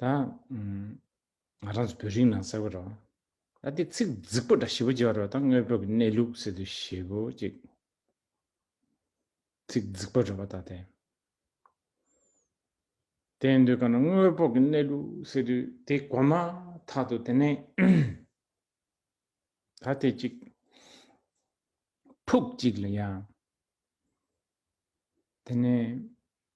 ད་ང་རང་ཚོ་བོད་རིགས་ནང་གསལ་བོ་རོ། ད་དེ་ཚིག་རྫིག་པོ་འདྲ་ཞིབ་པོ་བརྗོད་པ་རོ་ད་དངོས་པོ་གི་གནས་ལུགས་ཟེར་དུས་ཞེ་པོ་ཅིག་ཚིག་རྫིག་པོ་རེད་བ་ད་དེ། དེ་ཡིན་དུས་གང་ན་དངོས་པོ་གི་གནས་ལུགས་ཟེར་དུས་དེ་གོ་མ་ཐག་ཏུ་དེ་ནས་ད་དེ་ཅིག་ཕུགས་གཅིག་ལ་ཡང་དེ་ནས་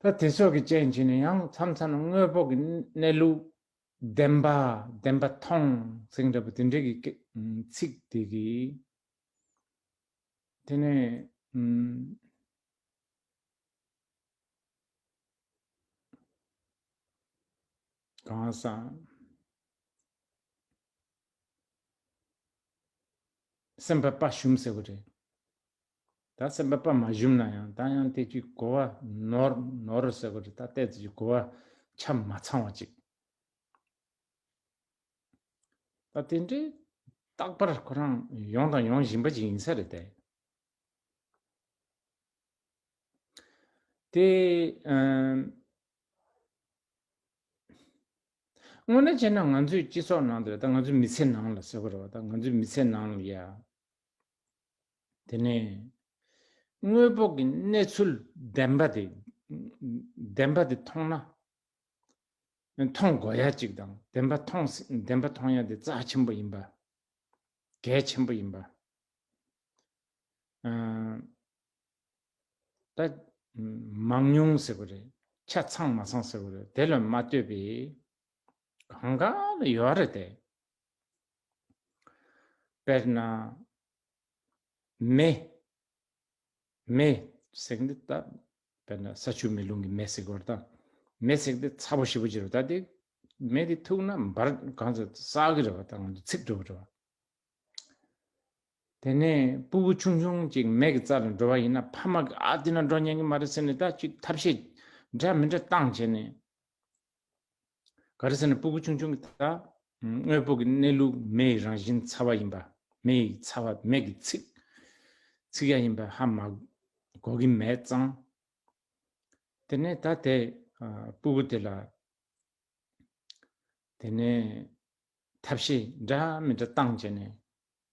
ད་དེ་སོགས་ཀྱི་རྐྱེན་གྱིས་ནི་ཡང་མཚམས་མཚམས་དངོས་པོ་གི་གནས་ལུགས་བདེན་པ་བདེན་པ་མཐོང་ཟིན་འདྲ་བོ་དེ་འདྲའི་གི་ཚིག་དེ་གི། དེ་ནས་གང་སང། སེམས་དཔའ་དཔའ་ཞུམ་ཟེར་བ་རེད། ད་སེམས་པ་པདྨ་བཞུམ་ན་ཡང་ད་ཡང་དེ་ཅིག་གོ་བ་ནོར་ནོར་ཟེར་གོ་དེ་ད་ལྟས་དེ་ཅིག་གོ་བ་ཆ་མ་ཚང་བ་ཅིག་ད་དེ་འདྲའི་རྟག་པར་ཁོ་རང་ཡོང་དང་ཡོང་བཞིན་པ་ཅིག་ཡིན་ས་རེད་དེ། དེ་ཨ། དངོས་གནས་བྱས་ན་ང་ཚོའི་སྤྱི་ཚོགས་ནང་དུ་ད་ང་ཚོའི་མི་ཚེ་ནང་ལ་ཟེར་གོ་རེད་བ་ད་ང་ཚོའི་མི་ཚེ་ནང་ལ་ཡ། དེ་ནས་དངོས་པོ་གི་གནས་ཚུལ་བདེན་པ་དེ་བདེན་པ་དེ་མཐོང་ན་མཐོང་དགོས་ཡ་གཅིག་དང་བདེན་པ་མཐོང་བདེན་པ་མཐོང་ཡ་དེ་རྩ་ཆེན་པོ་ཡིན་པ་གལ་ཆེན་པོ་ཡིན་པ་ད་མང་ཉུང་ཟེར་བ་རེད་ཆ་ཚང་མ་ཚང་ཟེར་བ་རེད་དེ་ལ་མ་ལྟོས་པའི་གང་གང་ལ་ཡོད་རེད་དེ་དཔེར་ན་མེ། མེ། བསྲེགས་འདི་ལྟ། དཔེར་ན་ས་ཆུ་མེ་རླུང་གིས་མེ་བསྲེགས་པར་དང། མེ་བསྲེགས་འདི་ཚ་བོ་ཞི་བོ་བྱེད་པར་ལྟ་སྟེ། མེ་འདི་ཐུག་ན་འབར་གང་ཚེ་བསགས་ཀྱི་རེ་བ་དང་ཚིག་འགྲོ་བར་འགྲོ། དེ་ནས་སྤུ་བུ་ཆུང་ཆུང་ཅིག་མེ་གི་རྩ་ལ་འགྲོ་བ་ཡིན་ན་ཕ་མ་གིས་ཨ་འདི་ན་འགྲོ་ཉན་གྱི་མ་རེད་ཟེར་ནས་ད་ཅིག་ཐབས་ཤེས་འདྲ་མི་འདྲ་བཏང་བྱས་ནས། ག་རེ་ཟེར་ན་སྤུ་གུ་ཆུང་ཆུང་གི་དག། དངོས་པོ་གི་གནས་ལུགས་མེ་ཡི་རང་བཞིན་ཚ་བ་ཡིན་པ། མེ་ཡི་ཚ་བ་མེ་གི་ཚིག། ཚིག་ཡ་ཡིན་པ་ཧ་མ་གོ་གི་མེད་ཙང། དེ་ནས་ད་དེ་སྤུ་གུ་དེ་ལ། དེ་ནས་ཐབས་ཤེས་འདྲ་མི་འདྲ་བཏང་བྱས་ནས།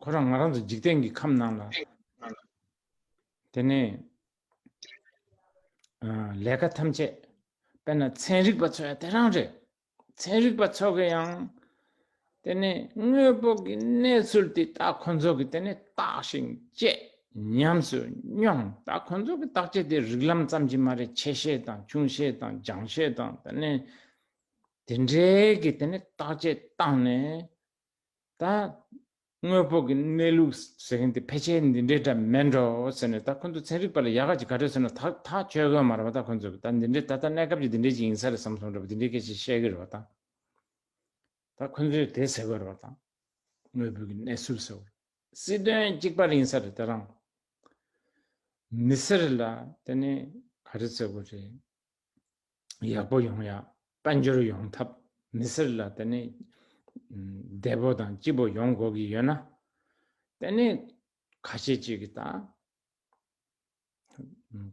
ཁོ་རང་ང་རང་ཚོ་འཇིག་རྟེན་གྱི་ཁམས་ནང་ལ་དེ་ནས་ལས་ཀ་ཐམས་ཅད་པད་ན་ཚན་རིག་པ་ཚོ་ཡང་དེ་རང་རེད་ཚན་རིག་པ་ཚོ་གི་ཡང་དེ་ནས་དངོས་པོ་གི་གནས་ཚུལ་དེ་ད་ཁོ་ཚོ་གི་དེ་ནས་བརྟག་ཞིང་དཔྱད་ཉམས་སུ་མྱོང་ད་ཁོ་ཚོ་གི་བརྟག་དཔྱད་དེ་རིགས་ལམ་ཙམ་གྱི་མ་རེད་ཆེ་བཤད་དང་ཆུང་བཤད་དང་རྒྱང་བཤད་དང་དེ་ནས་དེ་འདྲའི་གི་དེ་ནས་བརྟག་དཔྱད་བཏང་ནས་ད། དངོས་པོ་གི་གནས་ལུགས་ཟེར་མཁན་དེ་ཕལ་ཆེར་འདི་འདྲའི་སྒྲ་མེད་འགྲོ་ཟེར་ནས་ད་ཁོ་ཚོ་ཚན་རིག་པ་ལ་ཡག་ག་ཅིག་ག་རེ་ཟེར་ན་ད་ཐག་ཆོད་གོ་མ་རེད་པ་ད་ཁོ་ཚོ་གིས་ད་འདི་འདྲའི་ད་ལྟ་གནས་སྐབས་ཀྱི་འདི་འདྲའི་ཅིག་ཡིན་ས་རེད་བསམ་སོང་རེད་པ་འདི་འདྲའི་སྐད་ཆ་བཤད་གི་རེད་པ་དང། ད་ཁོ་ཚོས་དེ་ཟེར་གོ་རེད་པ་དང། དངོས་པོ་གི་གནས་ཚུལ་ཟེར་བ། སྲིད་དོན་གཅིག་པ་རེ་ཡིན་ས་རེད་དེ་རང། མི་སེར་ལ་དེ་ནི་ག་རེ་ཟེར་གོ་རེད། ཡག་པོ་ཡོང་ཡ་དཔལ་འབྱོར་ཡོང་ཐབས་མི་སེར་ལ་དེ་ནས་བདེ་པོ་དང་སྐྱིད་པོ་ཡོང་དགོས་ཀྱི་ཡོད་ན་དེ་ནས་ཁ་ཤས་ཅིག་གིས་ད་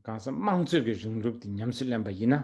གང་ས་དམངས་གཙོད་ཀྱི་རིང་ལུགས་དེ་ཉམས་སུ་ལེན་པ་ཡིན་ན།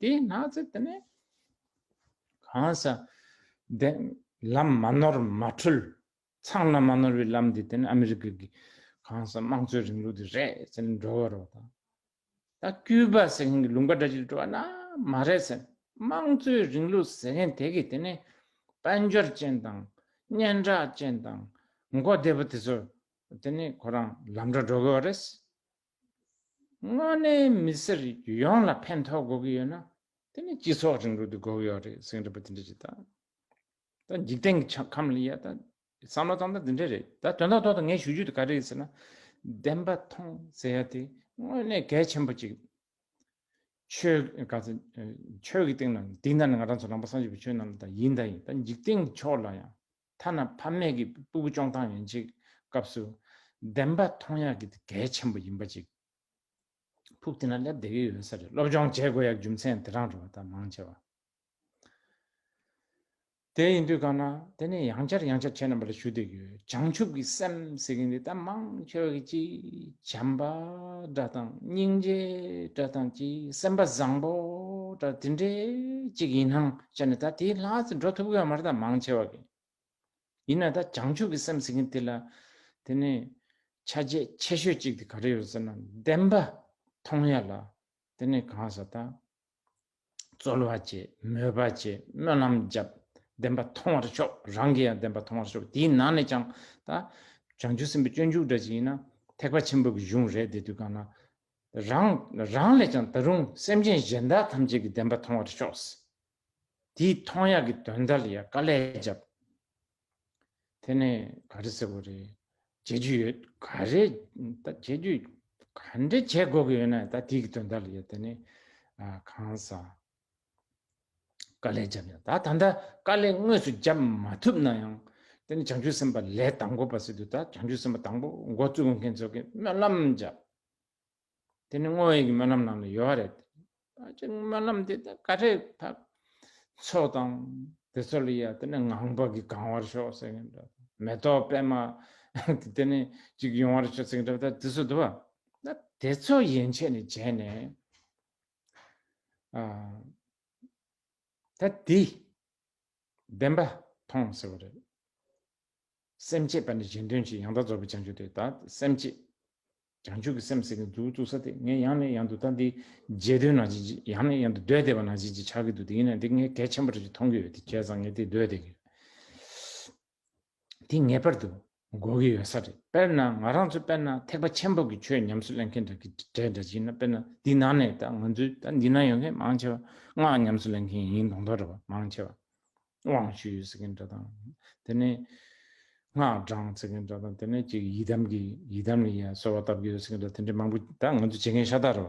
དེ་ན་ཚེ་དེ་ནས་གང་ས་དེ་ལམ་མ་ནོར་མ་འཁྲུལ་ཚང་ལམ་མ་ནོར་བའི་ལམ་དེ་དེ་ནས་ཨ་མི་རི་ཀ་གི་གང་ས་དམངས་གཙོའི་རིང་ལུགས་དེ་རེད་ཟེར་ནས་འགྲོ་བ་རོགས་དང། ད་ཀུའུ་པ་ཟེར་མཁན་གྱི་ལུང་པ་འདྲ་གཅིག་འགྲོ་བ་ན་མ་རེད་ཟེར་དམངས་གཙོའི་རིང་ལུགས་ཟེར་མཁན་དེ་གིས་དེ་ནས་དཔལ་འབྱོར་ཅན་དང་སྙན་གྲགས་ཅན་དང་མགོ་བདེ་པོ་དེ་ཚོ་དེ་ནས་ཁོ་རང་ལམ་འདྲ་འགྲོ་དགོས་བ་རེད། དངོས་གནས་མི་སེར་ཡོངས་ལ་ཕན་ཐོགས་དགོས་ཀྱི་ཡོད་ན། དེ་ནི་སྤྱི་ཚོགས་རིང་ལུགས་དེ་དགོས་ཀྱི་ཡོད་རེད་ཟེར་གྱི་འདུག་པ་དེ་འདྲ་ཞིག་དང། ད་འཇིག་རྟེན་གྱི་ཆ་ཁམས་ལ་ཡ་ད། བསམ་བློ་གཏོང་སྟངས་དེ་འདྲ་རེད་ད་དོན་དག་ཐོག་ཏུ་ངས་ཞུ་རྒྱུ་དེ་ག་རེད་ཟེར་ན། བདེན་པ་མཐོང་ཟེར་ཡ་དེ་དངོས་གནས་གལ་ཆེན་པོ་གཅིག། ཆོས་ག་ཚོད། ཆོས་ཀྱི་སྟེང་ན་དེ་འདྲ་ནི་ང་རང་ཚོ་རང་དཔའ་སངས་རྒྱས་པའི་ཆོས་རྣམས་ལ་དང་ཡིན་དང་ཡིན་ད་འཇིག་རྟེན་གྱི་ཕྱོགས་ལ་ཡང། ཐ་ན་ཕ་མེས་ཀྱི་སྤུ་གུ་ཅོང་ཐང་ཡིན་གཅིག་སྐབས་སུ། བདེན་པ་མཐོང་ཡག་གི་གལ་ཆེན་པོ་ཡིན་པ་གཅིག་ཕུགས་འདི་ན་སླེབས་བསྡད་ཀྱི་ཡོད་ས་རེད་སློབ་སྦྱོང་བྱེད་དགོས་ཡག་རྒྱུ་མཚན་དེ་རང་རེད་བ་ད་མང་ཆེ་བ་དེ་ཡིན་དུས་གང་ན་དེ་ནས་ཡང་བསྐྱར་ཡང་བསྐྱར་ཁྱེད་རྣམ་པ་ལ་ཞུ་བསྡད་ཀྱི་ཡོད་བྱང་ཆུབ་ཀྱི་སེམས་ཟེར་གྱི་འདི་ད་མང་ཆེ་བ་གི་གཅིག་བྱམས་པ་འདྲ་དང་སྙིང་རྗེ་འདྲ་དང་གཅིག་སེམས་པ་བཟང་པོ་འདྲ་དེ་འདྲའི་གཅིག་ཡིན་ནའང་ཅེ་ན་ད་དེའི་ལྷ་ཚོ་འགྲོ་ཐུབ་གི་མ་རེད་ད་མང་ཆེ་བ་གི། ཡིན་ན་ད་བྱང་ཆུབ་ཀྱི་སེམས་ཟེར་གིན་དེ་ལ་དེ་ནས་ཆ་བྱད་ཆེ་ཤོས་གཅིག་དེ་ག་རེ་ཡོད་ཟེར་ན་བདེན་པ་མཐོང་ཡ་ལ་དེ་ནས་གང་ཟེར་ད་རྩོལ་བ་ཅེས་མོས་པ་ཅེས་སྨོན་ལམ་བརྒྱབ་བདེན་པ་མཐོང་བར་ཤོག་རང་གི་ཡང་བདེན་པ་མཐོང་བར་ཤོག་དེའི་ནང་ནས་ཀྱང་ད་བྱང་ཆུབ་སེམས་དཔའི་སྤྱོད་འཇུག་འདྲ་ཅིག་ཡིན་ན་ཐེག་པ་ཆེན་པོ་གི་གཞུང་རེད་དེ་དུས་གང་ན་རང་རང་ལས་ཀྱང་ད་རུང་སེམས་ཅན་གཞན་དག་ཐམས་ཅད་ཀྱི་བདེན་པ་མཐོང་བར་ཤོག། དེའི་མཐོང་ཡག་གི་དོན་དག་ལ་ཡང་དཀའ་ལས་བརྒྱབ། དེ་ནས་ག་རེ་ཟེར་དགོས་རེད་བྱེད་རྒྱུ་ཡོད་ག་རེ་ད་བྱེད་རྒྱུ་ག་འདྲེ་བྱེད་དགོས་ཀྱི་ཡོད་ན་ད་དེའི་གི་དོན་དག་ལ་ཡང་དེ་ནས་གང་ཟ། དཀའ་ལས་བརྒྱབ་ཡང་ད་ད་ལྟ་དཀའ་ལས་དངོས་སུ་བརྒྱབ་མ་ཐུབ་ན་ཡང། དེ་ནི་བྱང་ཆུབ་སེམས་དཔའ་ལས་དང་པོ་པ་སྲིད་དུ་ད་བྱང་ཆུབ་སེམས་དཔའ་དང་པོ་འགོ་བཙུགས་མཁན་ཚོ་གིས་སྨོན་ལམ་བརྒྱབ། དེ་ནི་བསྔོ་བའི་གི་སྨོན་ལམ་ནང་ལ་ཡོད་རེད། ད་ཅིག་སྨོན་ལམ་དེ་ད་ག་རེ་ཕབ། ཚོགས་དང། དེ་ཚོ་ལ་ཡ་དེ་ནི་ངང་པ་གིས་གང་བར་ཤོག་ཟེར་གིན་འདྲ། མེ་ཏོག་པད་མ། དེ་ནི་ཅིག་ཡོང་བར་ཤོག་ཟེར་གིན་འདྲ། ད་དེ་ཚོ་དུ་བ། ད་དེ་ཚོ་ཡན་ཆད་ནས་བྱས་ནས། ད་དེ་བདེན་པ་མཐོང་ཟེར་བ་རེད། སེམས་བསྐྱེད་པ་ནི་གཞན་དོན་གྱི་ཡང་དག་རྫོགས་པའི་བྱང་ཆུབ་སྟེ། ད་སེམས་བསྐྱེད། བྱང་ཆུབ་ཀྱི་སེམས་ཟེར་མཁན་གཙུག་ཏུ་ས་སྟེ་ངས་ཡང་ནས་ཡང་དུ་ད་འདི་བརྗེད་འདོད་ནང་བཞིན་གྱིས་ཡང་ནས་ཡང་དུ་འདོད་བདེ་བ་ནང་བཞིན་གྱིས་ཆགས་ཀྱི་འདུག་དེ་ཡིན་ན་འདི་ངས་གལ་ཆེན་པོ་རེད་ཅེས་མཐོང་གི་ཡོད་དེ་བྱས་ཙང་ངས་དེ་འདོད་བདེ་གི་ཡོད། དེ་ངེས་པར་དུ་དགོས་ཀྱི་ཡོད་ས་རེད་དཔེར་ན་ང་རང་ཚོ་དཔེར་ན་ཐེག་པ་ཆེན་པོ་གི་ཆོས་ཉམས་སུ་ལེན་མཁན་འདྲ་གི་འདྲ་འདྲ་བྱེད་ན་དཔེར་ན་འདི་ན་ནས་ད་ང་ཚོའི་ད་འདི་ན་ཡོད་མཁན་མང་ཆེ་བ་སྔགས་ཉམས་སུ་ལེན་མཁན་ཡིན་མདོག་མདོག་རེད་བ་མང་ཆེ་བ་དབང་ཞུས་ཡོད་ཟེར་མཁན་འདྲ་དང་དེ་ནས་སྔགས་བགྲང་ཟེར་མཁན་འདྲ་དང་དེ་ནས་ཅིག་ཡི་དམ་གི་ཡི་དམ་ལ་ཡ་གསོལ་བ་བཏབ་ཀྱི་ཡོད་ཟེར་མཁན་འདྲ་དེ་འདྲ་མང་པོ་ད་ང་ཚོ་བྱེད་མཁན་ཤ་སྟག་རེད་བ་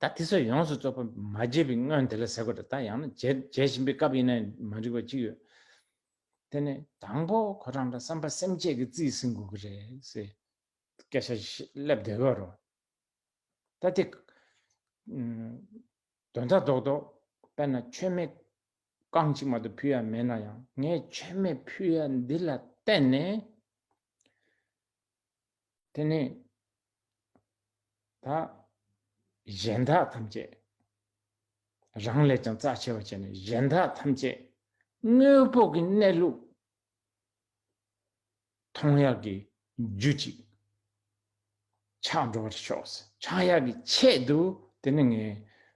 ད་དེ་ཚོ་ཡོངས་སུ་རྫོགས་པ་མ་བརྗེད་པའི་སྔོན་དེ་ལ་ཟེར་དགོས་དྲ་ད་ཡང་ན་བརྗེད་བཞིན་པའི་སྐབས་ཡིན་ན་མ་འགྲིག་པ་གཅིག་ཡོད། དེ་ནི་དང་པོ་ཁོ་རང་དང་བསམ་པ་སེམས་བསྐྱེད་ཀྱི་རྩིས་ཟིན་དགོས་ཀྱི་རེད། སྐད་ཆ་སླེབས་བདེ་གི་རོ། ད་དེ། དོན་དག་རྡོག་རྡོག་དཔེར་ན་མཆོད་མེ་རྐང་གཅིག་མ་གཏོགས་ཕུལ་ཡ་མེད་ན་ཡང་ངས་མཆོད་མེ་ཕུལ་ཡ་འདི་ལ་བརྟེན་ནས། དེ་ནས་ད་གཞན་དག་ཐམས་ཅད་རང་ལས་ཀྱང་རྩ་ཆེ་བར་བྱས་ནས་གཞན་དག་ཐམས་ཅད་དངོས་པོ་གི་གནས་ལུགས་མཐོང་ཡག་གི་རྒྱུ་ཅིག་ཆགས་འགྲོ་བར་ཤོག་ཆགས་ཡག་གི་ཆེད་དུ་དེ་ནས་ངས་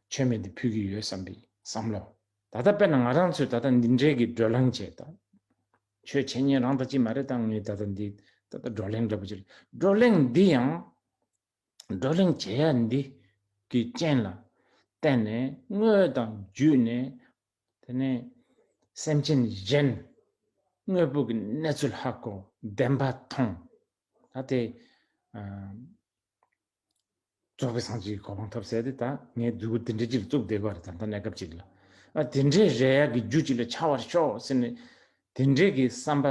མཆོད་མེ་འདི་ཕུལ་གྱི་ཡོད་བསམ་པའི་བསམ་བློ་ད་ལྟ་དཔེར་ན་ང་རང་ཚོས་ད་ལྟ་འདི་འདྲའི་གི་བགྲོད་ལམ་བྱས་དང་ཁྱོད་འཆད་ཉན་རང་དང་གཅིག་མ་རེད་ད་ངས་ད་ལྟ་འདི་ད་ལྟ་བགྲོ་གླེང་འདྲ་པོ་བྱེད་རེད་བགྲོ་གླེང་འདི་ཡང་བགྲོ་གླེང་བྱེད་ཡ་འདི་གི་རྐྱེན་ལ་བརྟེན་ནས་དངོས་དང་བརྒྱུད་ནས་དེ་ནས་སེམས་ཅན་གཞན་དངོས་པོ་གི་གནས་ཚུལ་ཧ་གོ་བདེན་པ་མཐོང་ད་དེ་རྫོགས་པའི་སངས་རྒྱས་གོ་འཕང་ཐོབ་ཟེར་ཏེ་ད་ངས་སྡུག་གུ་དེ་འདྲའི་ཅིག་བཙུགས་བསྡད་པར་ད་ལྟ་གནས་སྐབས་ཅིག་ལ་ཨ་དེ་འདྲའི་རས་ཡག་གི་རྒྱུ་ཅིག་ལ་ཆགས་བར་ཤོག་ཟེར་ནས་དེ་འདྲའི་གི་བསམ་པ་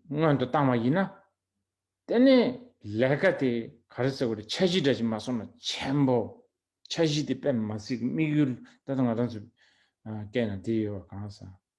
སྔོན་དུ་བཏང་བ་ཡིན་ན། དེ་ནས་ལས་ཀ་དེ་ག་རེ་ཟེར་བ་རེད་འཆར་གཞི་འདྲ་ཞིག་མ་སོང་ན་མཁྱེན་པོ། འཆར་གཞི་དེ་དཔེ་མ་ཚིག་དམིགས་ཡུལ་ད་ལྟ་ང་རང་ཚོས་བཀལ་ན་དེ་ཡོད་པ་གང་ཟག།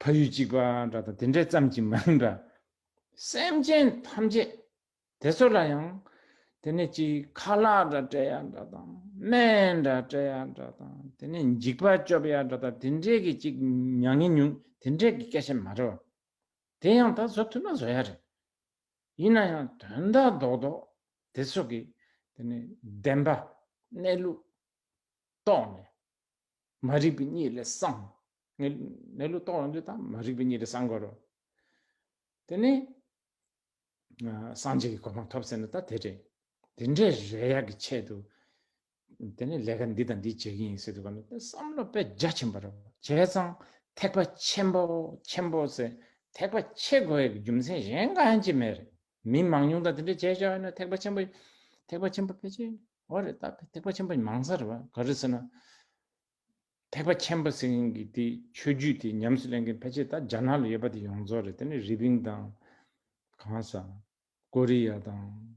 ཕ་ཡུལ་གཅིག་པ་འདྲ་དང་དེ་འདྲས་ཙམ་གྱིས་མིན་འདྲ། སེམས་ཅན་ཐམས་ཅད་དེ་ཚོ་ལ་ཡང་དེ་ནས་ཅིག་ཁ་ལག་འདྲ་སྤྲད་ཡ་འདྲ་དང་སྨན་འདྲ་སྤྲད་ཡ་འདྲ་དང་དེ་ནས་འཇིགས་པ་སྐྱོབ་ཡ་འདྲ་དང་དེ་འདྲས་ཀྱི་ཅིག་མྱ་ངན་ཉུང་དེ་འདྲས་ཀྱི་སྐད་ཆ་མ་རེད་བ། དེ་ཡང་ད་བཟོ་ཐུབ་ན་བཟོ་ཡ་རེད། ཡིན་ན་ཡང་དོན་དག་རྡོག་རྡོག་དེ་ཚོ་གི་དེ་ནས་བདེན་པ་གནས་ལུགས་རྟོགས་ནས། མ་རིག་པའི་གཉིད་ལས་སངས། གནས་ལུགས་རྟོགས་རང་རྒྱུད་དང་མ་རིག་པའི་གཉིད་ལས་སངས་དགོས་རུང། དེ་ནས་སངས་རྒྱས་ཀྱི་གོ་འཕང་ཐོབ་ཟེར་ན་ད་དེ་རེད། དེ་འདྲའི་རེག་ཡག་གི་ཆེད་དུ། དེ་ནས་ལས་ཀ་འདི་དང་འདི་བྱེད་ཀྱི་ཡིན་ཟེར་དུས་གོ་བསམ་བློ་དཔེ་རྒྱ་ཆེན་པོ་རེ་བྱས་ཙང་ཐེག་པ་ཆེན་པོ་ཆེན་པོ་ཟེར་ཐེག་པ་ཆེ་དགོས་ཡག་གི་རྒྱུ་མཚན་གཞན་གང་ཡང་ཅི་མེད་རེད། མི་མང་ཉུང་དག་དེ་འདྲའི་བྱས་བྱས་ཡོད་ན་ཐེག་པ་ཆེན་པོ་ཐེག་པ་ཆེན་པོ་ཕལ་ཆེར། ཨོ་རེད་ད་ཐེག་པ་ཆེན་པོ་མང་ས་རེད་བ་ག་རེད་ཟེར་ན། ཐེག་པ་ཆེན་པོ་ཟེར་མཁན་གྱི་དེ་ཆོས་བརྒྱུད་དེ་ཉམས་སུ་ལེན་མཁན་ཕལ་ཆེར་ད་རྒྱ་ནག་ལ་ཡོད་པ་དེ་ཡོངས་རྫོགས་རེད་དེ་ནི་རི་པིན་དང། གང་ས། ཀོ་རི་ཡ་དང།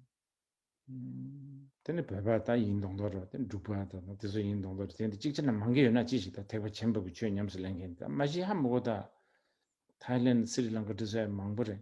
དེ་ནི་བོད་པ་ད་ཡིན་མདོག་མདོག་རེད་བ་དེ་འབྲུག་པ་ད་དང་དེ་ཚོ་ཡིན་མདོག་མདོག་རེད་དེ་འདི་གཅིག་ཅར་ན་མང་གི་ཡོད་ན་ཅི་ཞིག་ད་ཐེག་པ་ཆེན་པོ་གི་ཆོས་ཉམས་སུ་ལེན་མཁན་དེ་ད་མ་གཞི་ཧ་མི་གོ་ད། Thailand Sri Lanka འདི་ཚོ་ཡང་མང་པོ་རེད།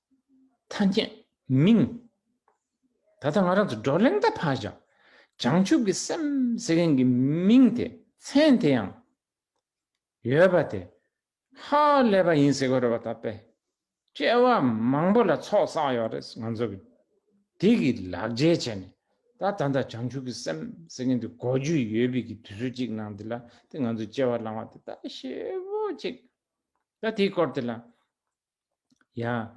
ཐ་སྙད། མིང། ད་ལྟ་ང་རང་ཚོ་བགྲོ་གླེང་ད་ཕར་བཞག་བྱང་ཆུབ་ཀྱི་སེམས་ཟེར་མཁན་གྱི་མིང་དེ་མཚན་དེ་ཡང་ཡོད་པ་དེ་ཧ་ལས་པ་ཡིན་ཟེར་གི་རེད་བ་ད་དཔེ་དཔྱད་བ་མང་པོ་ལ་ཚོགས་བསགས་ཡོད་རེད་ང་ཚོ་གི་དེ་གི་ལག་འཇལ་བྱས་ནས་ད་ད་ལྟ་བྱང་ཆུབ་ཀྱི་སེམས་ཟེར་མཁན་དེ་གོ་རྒྱུ་ཡོད་པའི་གི་དུས་ཚོད་ཅིག་ནང་དེ་ལ་དེ་ང་ཚོ་དཔྱད་བ་བླང་བ་དེ་ད་ཞེ་བོ་ཅིག་ད་དེའི་སྐོར་དེ་ལ་ཡང།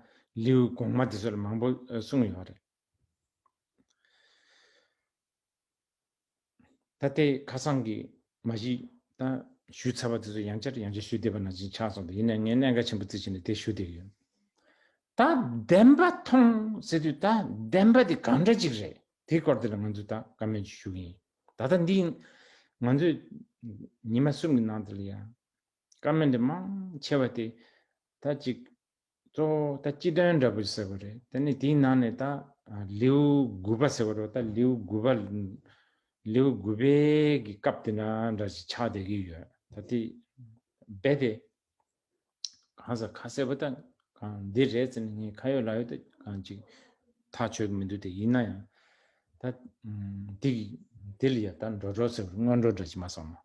ལེའུ་གོང་མ་དེ་ཚོ་ལ་མང་པོ་གསུངས་ཡོད་རེད། ད་ལྟའི་ཁ་སང་གི་མ་གཞི་དང་ཞུས་ཚར་བ་དེ་ཚོ་ཡང་བསྐྱར་ཡང་བསྐྱར་ཞུས་བསྡད་པ་ན་བཞིན་ཆགས་སོང་སྟེ་ཡིན་ནའི་ངས་གནད་འགག་ཆེན་པོ་རྩིས་བྱས་ནས་དེ་ཞུ་བསྡད་ཀྱི་ཡོད། ད་བདེན་པ་མཐོང་ཟེར་དུས་ད་བདེན་པ་དེ་གང་འདྲ་ཅིག་རེད་དེའི་སྐོར་དེ་ལ་ང་ཚོས་ད་བཀའ་མོལ་ཞུ་གི་ཡིན། ད་ལྟ་འདི་ང་ཚོས་ཉི་མ་གསུམ་གྱི་ནང་དེ་ལ་ཡང། བཀའ་མོལ་འདི་མང་ཆེ་བ་དེ་ད་ཅིག་གཙོ་བོ་ད་སྤྱི་དོན་འདྲ་པོ་ཟེར་བ་རེད་དེ་ནས་དེའི་ནང་ནས་ད་ལེའུ་དགུ་པ་ཟེར་བ་རོ་ད་ལེའུ་དགུ་པ་ལེའུ་དགུ་པའི་གི་སྐབས་དེ་ན་འདྲ་ཅིག་ཆགས་བསྡད་ཀྱི་ཡོད་ད་དེ་རྦད་དེ་གང་ཟག་ཁ་གསལ་པོ་ད་གང་འདི་རེད་ཟེར་ནས་ངས་ཁ་ཡོད་ལག་ཡོད་ད་གང་ཅིག་ཐག་ཆོད་ཀྱི་མི་འདུག་དེ་ཡིན་ན་ཡང་ད་དེ་གི་དེ་ལ་ཡང་ད་འགྲོ་འགྲོ་ཟེར་བ་སྔོན་འགྲོ་འདྲ་ཅིག་མ་སོང་ངོ།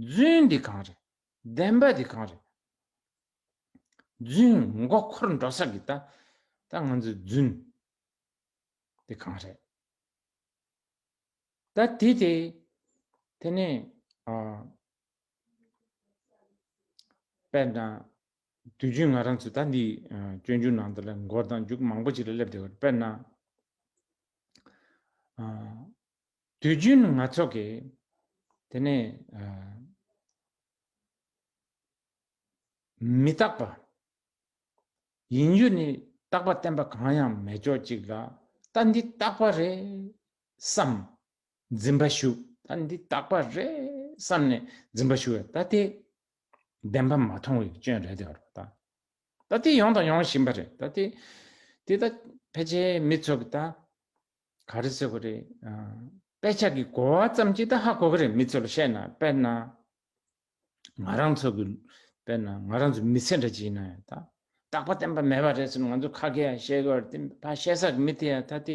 རྫུན་འདི་གང་རེད་བདེན་པ་འདི་གང་རེད། རྫུན་མགོ་འཁོར་འགྲོ་ས་གི་ད་ད་ང་ཚོའི་རྫུན་འདི་གང་རེད། ད་དེ་དེ་དེ་ནས་དཔལ་དང་དུས་རྒྱུན་ང་རང་ཚོ་ད་འདི་སྤྱོད་འཇུག་ནང་དུ་ལ་མགོ་དང་རྒྱུག་མང་པོ་ཅིག་ལ་སླེབས་བསྡད་དཔེར་ན། དུས་རྒྱུན་ང་ཚོ་གིས་དེ་ནི་མི་རྟག་པ་ཡིན་རྒྱུ་ནི་རྟག་པ་བསྟན་པ་གང་ཡང་མེད་ཅོག་ཅིག་ལ་ད་འདི་རྟག་པ་རེད་བསམ་འཛིན་པ་ཞུ་ད་འདི་རྟག་པ་རེད་བསམ་ནས་འཛིན་པ་ཞུ་ད་དེ་བདེན་པ་མ་མཐོང་བའི་སྐྱོན་རེད་དོ་ར་ད་ད་དེ་ཡོང་དང་ཡོང་བཞིན་པ་རེད་ད་དེ་དེ་ད་ཕལ་ཆེར་མི་ཚོ་གིས་ད། ག་རེ་ཟེར་བ་རེད། དཔེ་ཆ་གི་གོ་བ་ཙམ་གྱིས་ད་ཧ་གོ་གི་རེད་མི་ཚོ་ལ་བཤད་ན་དཔེར་ན། ང་རང་ཚོ་གི་དཔེར་ན་ང་རང་ཚོ་མི་ཚེ་འདྲ་བྱས་ན་ཡང་ད་རྟག་པ་བསྟན་པ་མེད་པ་རེད་ཟེར་ནས་ང་ཚོ་ཁ་སྐད་ཡང་བཤད་གི་རེད་དེ་ཕ་བཤད་ས་གི་མི་དེ་ཡང་ད་དེ་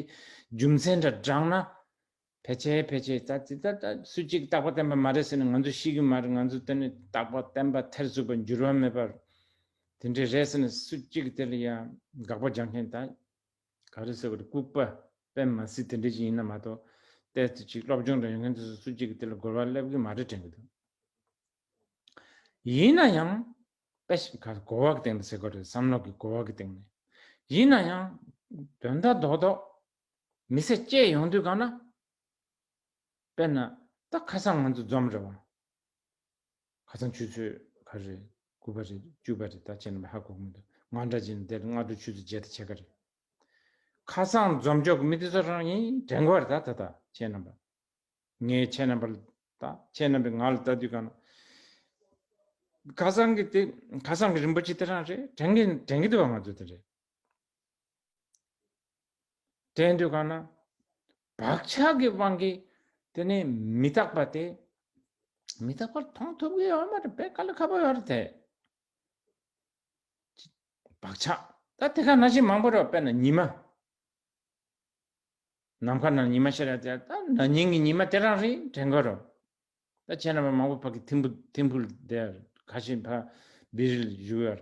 རྒྱུ་མཚན་འདྲ་བསྒྲགས་ན། ཕལ་ཆེ་ཕལ་ཆེ་ད་དེ་ད་སུ་གཅིག་རྟག་པ་བསྟན་པ་མ་རེད་ཟེར་ནས་ང་ཚོ་ཤེས་གི་མ་རེད་ང་ཚོ་དེ་ནས་རྟག་པ་བསྟན་པ་ཐེར་ཟུག་པར་འགྱུར་བ་མེད་པར་དེ་འདྲས་རེད་ཟེར་ནས་སུ་གཅིག་དེ་ལ་ཡང་དགག་པ་རྒྱག་མཁན་ད། ག་རེ་ཟེར་བ་དེ་ལྐུགས་པ་པད་མ་སི་དེ་འདྲས་ཅིག་ཡིན་ན་མ་གཏོགས། ལྟས་ཚེ་ཅིག་སློབ་སྦྱོང་འདྲ་ཡོད་མཁན་ཚོས་སུ་སུ་གཅིག་གིས་དེ་ལ་རྒོལ་བ་སླེབས་གི་མ་རེད་དྲན་གི་འདུག་ཡིན་ན་ཡང། པད་ཤ་གར་རྒོལ་བ་གི་སྟེང་དུ་ཟེར་དགོས་རེད་བསམ་བློ་གི་རྒོལ་བ་གི་སྟེང་ནས་ཡིན་ན་ཡང། དོན་དག་རྡོག་རྡོག། མི་ཚེ་སྐྱེལ་ཡོང་དུས་གང་ན། དཔེར་ན། ད་ཁ་སང་ང་ཚོ་འཛོམས་རེད་བ། ཁ་ཚང་ཆུ་ཚོད་ག་རེད། དགུ་པ་རེད་བཅུ་པ་རེད་ད་བྱས་ན་མི་ཧ་གོ་གི་མི་འདུག་ང་འདྲ་བྱས་ན་དེ་ལ་སྔ་དྲོ་ཆུ་ཚོད་བརྒྱད་དང་ཕྱེད་ཀ་རེད། ཁ་ཚང་འཛོམས་འཇོག་གི་མི་དེ་ཚོ་རང་ཡིན་དྲན་གི་བ་རེད་ད་ད་ཁྱེད་རྣམ་པ་ངའི་ཁྱེད་རྣམ་པ་ལ་ད་ཁྱེད་རྣམ་པས་ང་ལ་ལྟ་དུས་གང་ན་ཁ་ཚང་གི་དེ་ཁ་ཚང་གི་རིན་པོ་ཆེ་དེ་རང་རེད་དྲན་གི་དྲན་གི་འདུག་བ་ང་ཚོ་དེ་རེད། དྲན་དུ་ག་ན། བག་ཆགས་ཀྱི་དབང་གིས་དེ་ནི་མི་རྟག་པ་སྟེ། མི་རྟག་པར་མཐོང་ཐུབ་ཀྱི་ཡོད་མ་རེད་པས་ག་ལ་ཁ་བ་ཡོད་དེ། བག་ཆགས་ད་དེ་ག་ན་བཞིན་མང་པོ་རེད་བས་ན་ཉི་མ། ནམ་མཁའ་ན་ཉི་མ་ཞེས་ར་དེ་ད་ན་ཉིན་གྱི་ཉི་མ་དེ་རང་རེད་དྲན་དགོས་རོ། ད་བྱས་ན་བ་མང་པོ་བག་གི་ཐིམ་ཕུལ་དེ་ག་བཞིན་བ་བི་རིལ་བཞུགས་ཡོད།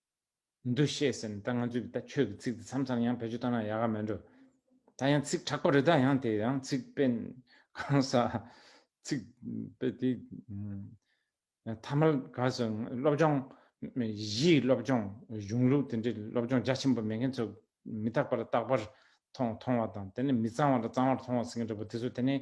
འདུ་ཤེས་ཟིན་ད་ང་ཚོས་ད་ཁྱོད་ཀྱི་ཚིག་འདི་མཚམས་མཚམས་ཡང་བེད་སྤྱོད་བཏང་ན་ཡག་ག་མེད་འགྲོ། ད་ཡང་ཚིག་དྲག་པ་རེད་ད་ཡང་དེ་ཡང་ཚིག་དཔེ་གང་ཟག་ཚིག་དཔེ་དེ་ཐ་མལ་ག་ཟེར་སློབ་སྦྱོང་གཞིའི་སློབ་སྦྱོང་གཞུང་ལུགས་དེ་འདྲའི་སློབ་སྦྱོང་རྒྱ་ཆེན་པོ་མེད་མཁན་ཚོ་མི་རྟག་པ་ལ་རྟག་པར་མཐོང་མཐོང་བ་དང་དེ་ནས་མི་གཙང་བ་ལ་གཙང་བར་མཐོང་བ་ཟེར་མཁན་འདྲ་པོ་དེ་ཚོ་དེ་ནས་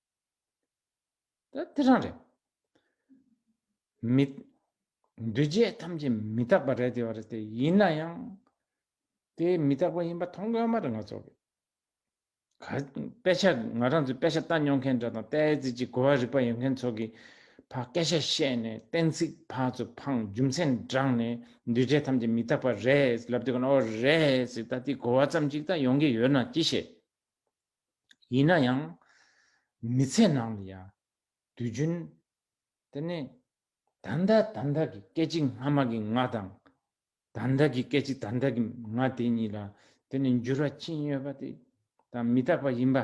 ད་དེ་རང་རེད། མི། འདུས་བྱས་ཐམས་ཅད་མི་རྟག་པ་རེད་དེ་བ་རེད་དེ་ཡིན་ན་ཡང། དེ་མི་རྟག་པ་ཡིན་པ་མཐོང་གི་ཨ་མ་རེད་ང་ཚོ། ག། དཔེ་ཆ་ང་རང་ཚོས་དཔེ་ཆ་ལྟ་མྱོང་མཁན་འདྲ་དང་ལྟས་ཙི་ཅི་གོ་བ་རིག་པ་ཡོད་མཁན་ཚོ་གི། ཕ་སྐད་ཆ་བཤད་ནས་གཏན་ཚིགས་ཕ་ཚོ་འཕངས་རྒྱུ་མཚན་བགྲངས་ནས་འདུས་བྱས་ཐམས་ཅད་མི་རྟག་པ་རེད་ལབ་དེ་གོ་ན་ཨོ་རེད་ཟེར་ད་དེ་གོ་བ་ཙམ་ཅིག་ད་ཡོང་གི་ཡོད་ན་ཅི་བྱེད། ཡིན་ན་ཡང། མི་ཚེ་ནང་ལ་ཡང། དུས་རྒྱུན། དེ་ནི། ད་ལྟ་ད་ལྟ་གི་སྐད་ཅིག་སྔ་མ་གི་ང་དང། ད་ལྟ་གི་སྐད་ཅིག་ད་ལྟ་གི་ང་དེ་གཉིས་ལ་དེ་ནི་འགྱུར་བ་ཅི་ཡོད་པ་དེ་དང་མི་རྟག་པ་ཡིན་པ།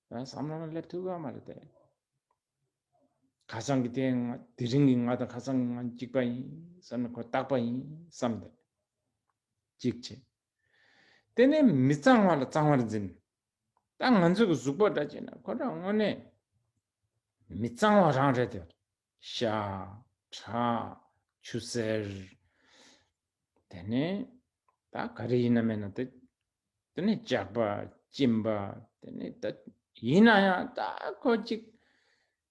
བསམ་བློ་ལ་སླེབས་ཐུབ་ཀ་མ་རེད་དེ། ཁ་སང་གི་དེ་ང་དེ་རིང་གི་ང་དང་ཁ་སང་གི་ང་གཅིག་པ་ཡིན་བསམ་ན་ཁོ་རྟག་པ་ཡིན་བསམ་སྟེ། གཅིག་བྱས། དེ་ནི་མི་གཙང་བ་ལ་གཙང་བར་འཛིན། ད་ང་ཚོས་གཟུགས་པོ་འདྲ་བྱས་ན་ཁོ་རང་དངོས་གནས་མི་གཙང་བ་རང་རེད་དོ། ཤ། ཁྲག། ཆུ་སེར། དེ་ནི་ད་ག་རེ་ཡིན་ན་མེད་ན་དེ་དེ་ནི་ལྕགས་པ། གཅིན་པ། དེ་ནི་ད་ཡིན་ན་ཡང་ད་ཁོ་གཅིག་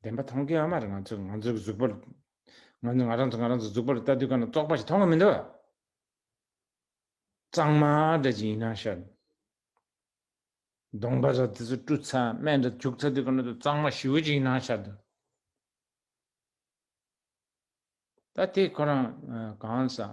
བདེན་པ་མཐོང་མཁན་ཨ་མ་རེད་ང་ཚོས་ང་ཚོའི་གཟུགས་པོ། ང་ཚོས་ང་རང་ཚོ་ང་རང་ཚོའི་གཟུགས་པོ་ལ་ལྟ་དུས་ག་ན་བཙོག་པ་ཞིག་མཐོང་གི་མི་འདུག། གཙང་མ་འདྲ་ཅིག་ཡིན་ན་ཤར། གདོང་པ་ར་དེ་ཚོ་བཀྲུ་ཚ་སྨན་འདྲ་བྱུག་ཚ་དུས་ག་ན་དུ་གཙང་མ་ཞི་བོ་ཅིག་ཡིན་ན་ཤར་དུ། ད་དེ་ཁོ་རང་གང་བསམ།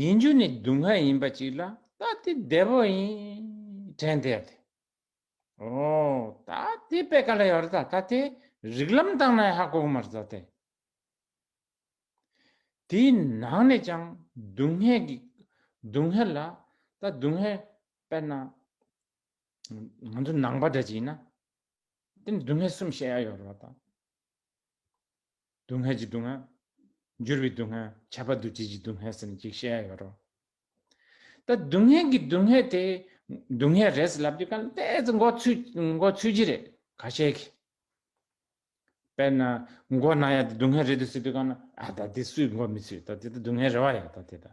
ཡིན་རྒྱུ་ནི་སྡུག་བསྔལ་ཡིན་པ་ཅིག་ལ་ད་དེ་བདེ་བོ་ཡིན་དྲན་བདེ་བ་དེ། ཨོ། ད་དེ་པད་ག་ལ་ཡོད་རེད་ད་ད་དེ་རིག་ལམ་དང་ན་ཧ་གོ་གི་མ་རེད་ད་དེ། དེའི་ནང་ནས་ཀྱང་སྡུག་བསྔལ་གི་སྡུག་བསྔལ་ལ་ད་སྡུག་བསྔལ་དཔེར་ན། ང་ཚོ་ནང་པ་འདྲ་ཅིག་ཡིན་ན། དེ་ནི་སྡུག་བསྔལ་གསུམ་བཤད་ཡ་ཡོད་རེད་བ་ད། སྡུག་བསྔལ་གྱི་སྡུག་བསྔལ། འགྱུར་བའི་སྡུག་བསྔལ། ཁྱབ་པ་འདུ་བྱེད་ཀྱི་སྡུག་བསྔལ་ཟེར་ནས་གཅིག་བཤད་ཡ་ཡོད་རོ། ད་སྡུག་བསྔལ་གྱི་སྡུག་བསྔལ་དེ། སྡུག་བསྔལ་རེད་ཟེར་ལབ་རྒྱུ་གང་དེ་ཚོ་མགོ་ཚུད་ཀྱི་རེད་ག་བཤད་གི། དཔེར་ན་མགོ་ན་ཡ་དེ་སྡུག་བསྔལ་རེད་འདུག་ཟེར་དུས་གང་ན་ཨ་ད་དེ་སུས་མགོ་མི་ཚུད་ད་དེ་ད་སྡུག་བསྔལ་རེད་བ་ཡ་ད་དེ་ད།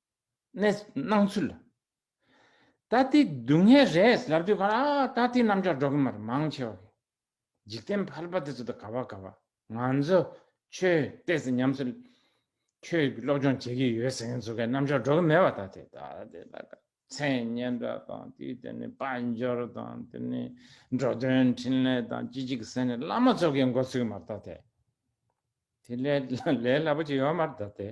ནས་སྣང་ཚུལ། ད་ལྟའི་སྡུག་བསྔལ་རེད་ལབ་དུས་གང་ལ་ད་ལྟའི་རྣམ་གཞག་སྒྲོག་གིན་མ་རེད་མང་ཆེ་བ་གིས། འཇིག་རྟེན་ཕལ་པ་དེ་ཚོ་དང་ག་བ་ག་བ་ང་ཚོ་ཆོས་གཏད་ཟེར་ཉམས་སུ་ཁྱོད་སློབ་སྦྱོང་བྱེད་ཀྱི་ཡོད་ཟེར་མཁན་ཚོ་གའི་རྣམ་གཞག་སྒྲོག་གིན་མེད་པ་ད་ལྟའི་ད་ལྟའི་ད་ལྟ་མཚན་སྙན་གྲགས་དང་དེའི་སྟེང་ནས་དཔའ་འབྱོར་དང་དེ་ནས་འགྲོ་དོན་འཕྲིན་ལས་དང་ཅི་ཅིག་ཟེར་ནས་བླ་མ་ཚོ་གའི་མགོ་ཚུགས་གིན་མ་རེད་ད་ལྟའི་དེ་ལས་ལས་སླ་པོ་ཅིག་ཡོད་མ་རེད་ད་ལྟའི།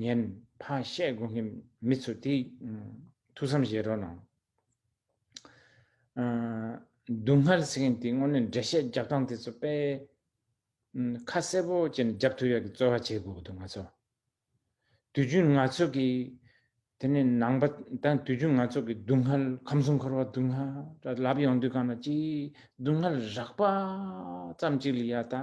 ཉན། ཕ་བཤད་དགོས་མཁན་མི་ཚོ་དེ། ཐུགས་བསམ་བཞེས་རོགས་གནང། སྡུག་བསྔལ་ཟེར་མཁན་དེ་དངོས་གནས་འགྲེལ་བཤད་རྒྱག་སྟངས་དེ་ཚོ་དཔེ། ཁ་གསལ་པོ་བཅས་ནས་རྒྱབ་ཐོ་ཡག་གི་རྩོལ་བ་བྱེད་དགོས་འདུག་ང་ཚོ། དུས་རྒྱུན་ང་ཚོ་གི། དེ་ནས་ནང་པ་དང་དུས་རྒྱུན་ང་ཚོ་གི་སྡུག་བསྔལ་ཁམས་གསུམ་འཁོར་བ་སྡུག་བསྔལ་ར་ལབ་ཡོང་དུས་གང་ན་ཅི་སྡུག་བསྔལ་རགས་པ་ཙམ་ཅིག་ལ་ཡ་ད།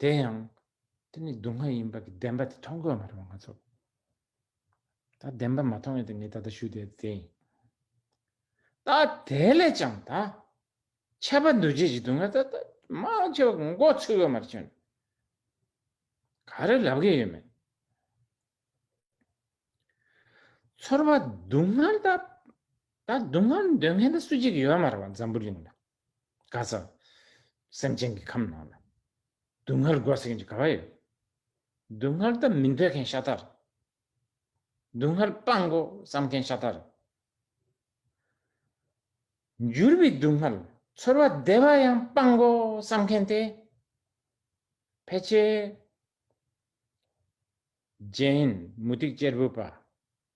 དེ་ཡང་དེ་ནི་སྡུག་བསྔལ་ཡིན་པ་གྱི་བདེན་པ་དེ་མཐོང་དགོས་མ་རེད་བ་ང་ཚོ། ད་བདེན་པ་མ་མཐོང་བས་དེ་ངས་ད་ལྟ་ཞུས་བསྡད་དེ་ཡིན། ད་དེ་ལས་ཀྱང་ད་ཁྱད་པར་འདུ་བྱེད་ཀྱི་སྡུག་བསྔལ་ད་མང་ཆེ་བ་མགོ་ཚོས་དགོས་མ་རེད་བྱུང། ག་རེ་ལབ་གི་ཡོད་མེད། ཚོར་བ་སྡུག་བསྔལ་ད་སྡུག་བསྔལ་འདོད་མཁན་ད་སུ་གཅིག་ཡོད་མ་རེད་བ་འཛམ་བུ་གླིང་ན། ག་ས་སེམས་ཅན་གྱི་ཁམས་ནང་ལ། སྡུག་བསྔལ་དགོས་ཟེར་མཁན་གྱི་ག་བ་ཡོད། སྡུག་བསྔལ་ད་མི་འདོད་མཁན་ཤ་སྟག་རེད། སྡུག་བསྔལ་སྤང་དགོས་བསམ་མཁན་ཤ་སྟག་རེད། འགྱུར་བའི་སྡུག་བསྔལ་ཚོར་བ་བདེ་བ་ཡང་སྤང་དགོས་བསམ་མཁན་དེ་ཕལ་ཆེར། རྗེ་ཧན་མུ་སྟེགས་གཅེར་བུ་པ།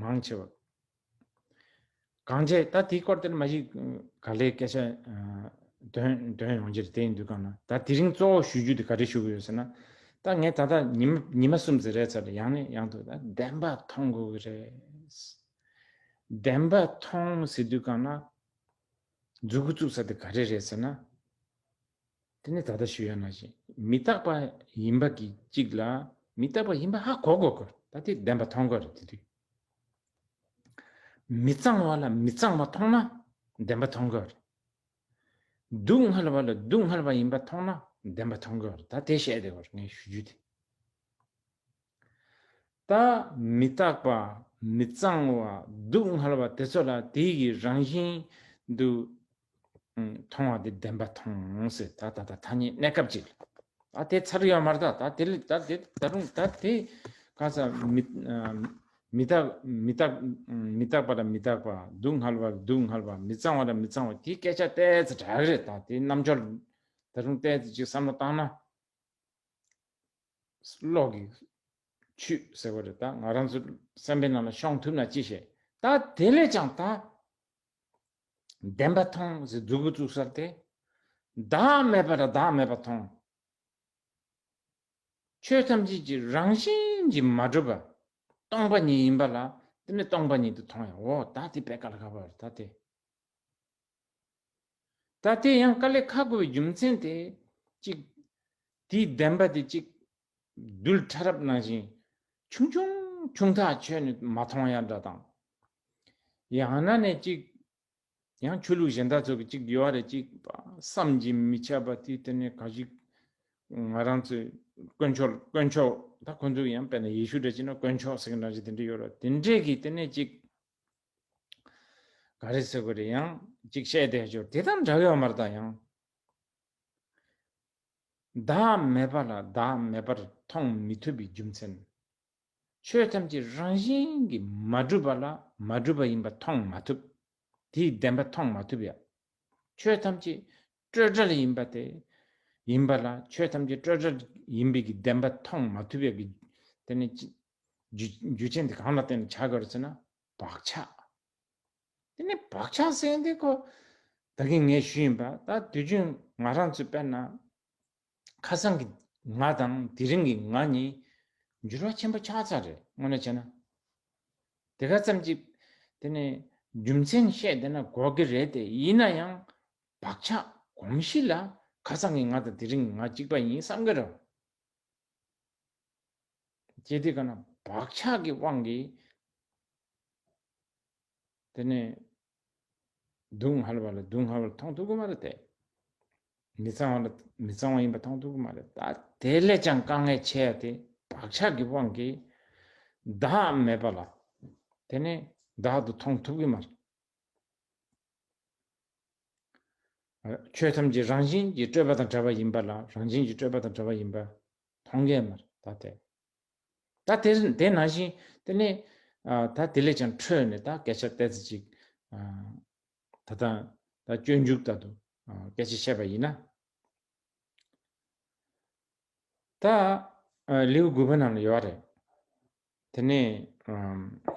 མང་ཆེ་བ། གང་བྱས་ད་དེའི་སྐོར་དེར་མ་གཞི་ག་ལེའི་སྐད་ཆ་འདོན་འདོན་ཡོང་རྒྱུར་དེའི་འདུལ་ཁང་ན་ད་དེ་རིང་གཙོ་བོ་ཞུ་རྒྱུ་དེ་ག་རེ་ཞུ་གི་ཡོད་ཟེར་ན། ད་ངས་ད་ལྟ་ཉི་མ་ཉི་མ་གསུམ་ཚེ་རལ་ཚ་ལ་ཡང་ནས་ཡང་དུ་ད་བདེན་པ་མཐོང་དགོས་ཀྱི་རེད། བདེན་པ་མཐོང་ཟེར་དུས་གང་ན། འཛུལ་གི་བཙུགས་ས་དེ་ག་རེ་རེད་ཟེར་ན། དེ་ནི་ད་ལྟ་ཞུ་ཡ་མ་བྱེད། མི་རྟག་པ་ཡིན་པ་གི་གཅིག་ལ་མི་རྟག་པ་ཡིན་པ་ཧ་གོ་དགོས་དགོས་ད་དེ་བདེན་པ་མཐོང་དགོས་རེད་དེ་དུས་མི་གཙང་བ་ལ་མི་གཙང་བ་མཐོང་ན་བདེན་པ་མཐོང་དགོས་རེད། སྡུག་བསྔལ་བ་ལ་སྡུག་བསྔལ་བ་ཡིན་པ་མཐོང་ན་བདེན་པ་མཐོང་དགོས་རེད་ད་དེ་བཤད་དེ་བར་ངས་ཞུ་རྒྱུ་དེ། ལྟ། མི་རྟག་པ། མི་གཙང་བ། སྡུག་བསྔལ་བ་དེ་ཚོ་ལ་དེའི་གི་རང་བཞིན་དུ་མཐོང་བ་དེ་བདེན་པ་མཐོང་ཟེར་ད་ད་ད་ཐ་སྙད་གནས་སྐབས་ཅིག་ལ་ད་དེ་ཚར་ཡོད་མ་རྟག་ད་དེ་ད་དེ་ད་རུང་ད་དེ་ག་ས་མི་མི་རྟག་མི་རྟག་མི་རྟག་པ་ལ་མི་རྟག་པ་སྡུག་བསྔལ་བ་ལ་སྡུག་བསྔལ་བ་མི་གཙང་བ་ལ་མི་གཙང་བ་དེའི་སྐད་ཆ་བལྟས་ཚེ་དྲག་རེད་ད་དེའི་རྣམ་འབྱོར་ད་རུང་བལྟས་ཚེ་ཅིག་བསམ་བློ་བཏང་ན། གློག་གིས་ཆུས་ཟེར་བ་རེད་ད་ང་རང་ཚོ་སེམས་པའི་ནང་ལ་ཤོང་ཐུབ་ན་ཅི་བྱེད་ད་དེ་ལས་ཀྱང་ད་བདེན་པ་ཐོང་ཟེར་རྫུ་བུ་བཙུགས་སར་དེ་བདག་མེད་པ་ལ་བདག་མེད་པ་ཐོང། ཆོས་ཐམས་ཅད་ཀྱི་རང་བཞིན་གྱིས་མ་གྲུབ་པ་སྟོང་པ་ཉིད་ཡིན་པ་ལ་དེ་ནི་སྟོང་པ་ཉིད་དུ་ཐོང་ཡང་འོ་ད་དེ་བད་ག་ལ་ག་བར་ད་དེ། ད་དེ་ཡང་དཀའ་ལས་ཁག་དགོས་པའི་རྒྱུ་མཚན་དེ་གཅིག། དེའི་བདེན་པ་དེ་གཅིག། རྡུལ་ཕྲ་རབ་ནང་བཞིན་ཆུང་ཆུང་ཆུང་ཐག་ཆོད་ནས་མ་མཐོང་ཡ་འདྲ་དང། ཡང་ན་ནས་གཅིག། ཡང་ཆོས་ལུགས་གཞན་དག་ཚོ་གི་གཅིག་ཡོད་རེད་གཅིག་པ་བསམ་གྱི་མི་ཁྱབ་པ་དེ་དེ་ནས་ག་ཞིག། ང་རང་ཚོས་དཀོན་མཆོག་དཀོན་མཆོག་ད་ཁོང་ཚོ་ཡང་དཔེར་ན་ཡེ་ཤུ་འདྲ་བྱས་ན་དཀོན་མཆོག་ཟེར་གི་འདྲ་བྱས་དེ་འདྲ་ཡོད་རེད་དེ་འདྲས་གི་དེ་ནས་གཅིག། ག་རེ་ཟེར་དགོས་རེད་ཡང་གཅིག་བཤད་བསྡད་བཅུར་དེ་དང་འདྲ་ཡོད་མ་རེད་ད་ཡང། བདག་མེད་པ་ལ་བདག་མེད་པར་མཐོང་མི་ཐུབ་པའི་རྒྱུ་མཚན། ཆོས་ཐམས་ཅད་རང་བཞིན་གྱིས་མ་གྲུབ་པ་ལ་མ་གྲུབ་པ་ཡིན་པ་མཐོང་མ་ཐུབ། དེའི་བདེན་པ་མཐོང་མ་ཐུབ་ཡ། ཆོས་ཐམས་ཅད་སྤྲོས་བྲལ་ཡིན་པ་དེ་ཡིན་པ་ལ་ཆོས་ཐམས་ཅད་སྤྲོས་བྲལ་ཡིན་པའི་བདེན་པ་མཐོང་མ་ཐུབ་ཡ། དེ་ནི་རྒྱུ་རྐྱེན་དེ་གང་ལ་བརྟེན་ནས་ཆགས་དགོས་རེད་ཟེར་ན། བག་ཆགས། དེ་ནི་བག་ཆགས་ཟེར་ཡང་དེ་ཁོ་ད་གིན་ངས་ཞུས་ཡིན་པ་ད་དུས་རྒྱུན་ང་རང་ཚོས་དཔེར་ན། ཁ་སང་གི་ང་དང་དེ་རིང་གི་ང་གཉིས་འགྱུར་བ་ཆེན་པོ་ཆགས་ཚར་རེད་དངོས་གནས་བྱས་ན། དེ་ག་ཙམ་གྱིས་དེ་ནི་རྒྱུ་མཚན་བཤད་བསྡད་ན་འགོག་གི་རེད་དེ་ཡིན་ན་ཡང་བག་ཆགས་གོམས་གཤིས་ལ་ཁ་སང་གི་ང་དང་དེ་རིང་གི་ང་གཅིག་པ་ཡིན་བསམ་གི་རེད། ཅེས་དེ་ག་ན་བག་ཆགས་ཀྱི་དབང་གིས་དེ་ནས་སྡུག་བསྔལ་བ་ལ་སྡུག་བསྔལ་བར་མཐོང་ཐུབ་ཀྱི་མ་རེད་དེ། མི་གཙང་བ་ལ་མི་གཙང་བ་ཡིན་པ་མཐོང་ཐུབ་ཀྱི་མ་རེད་ད་དེ་ལས་ཀྱང་དཀའ་ངལ་ཆེ་ཡ་དེ་བག་ཆགས་ཀྱི་དབང་གིས་བདག་མེད་པ་ལ་དེ་ནས་བདག་ཏུ་མཐོང་ཐུབ་ཀྱི་མ་རེད། ཆོས་ཐམས་ཅད་རང་བཞིན་གྱིས་སྤྲོས་པ་དང་བྲལ་བ་ཡིན་པ་ལ་རང་བཞིན་གྱིས་སྤྲོས་པ་དང་བྲལ་བ་ཡིན་པ་མཐོང་གེ་མ་རེད་ད་དེ། ད་དེ་དེ་ན་བཞིན་དེ་ནས་ད་དེ་ལས་ཀྱང་འཕྲོས་ནས་ད་སྐད་ཆ་གཏད་ཚེ་ཅིག་ད་ལྟ་ད་སྤྱོད་འཇུག་ད་དུ་སྐད་ཆ་བཤད་པ་ཡིན་ན། ད་ལེའུ་དགུ་པ་ནང་ལ་ཡོད་རེད། དེ་ནས་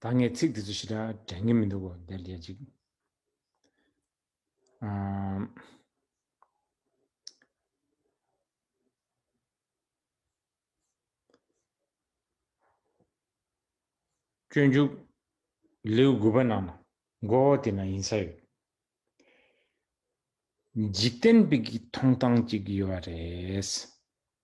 ད་ངས་ཚིག་དེ་ཚོ་ཞིག་དྲན་གྱིན་མི་འདུག་གོ་བདེར་སྐྱེལ་ཅིག། སྤྱོད་འཇུག་ལེའུ་དགུ་པ་ནང་ན་མགོ་བོ་དེ་ན་ཡིན་ས་ཡོད། འཇིག་རྟེན་པའི་གི་མཐོང་སྟངས་ཅིག་ཡོད་རེད།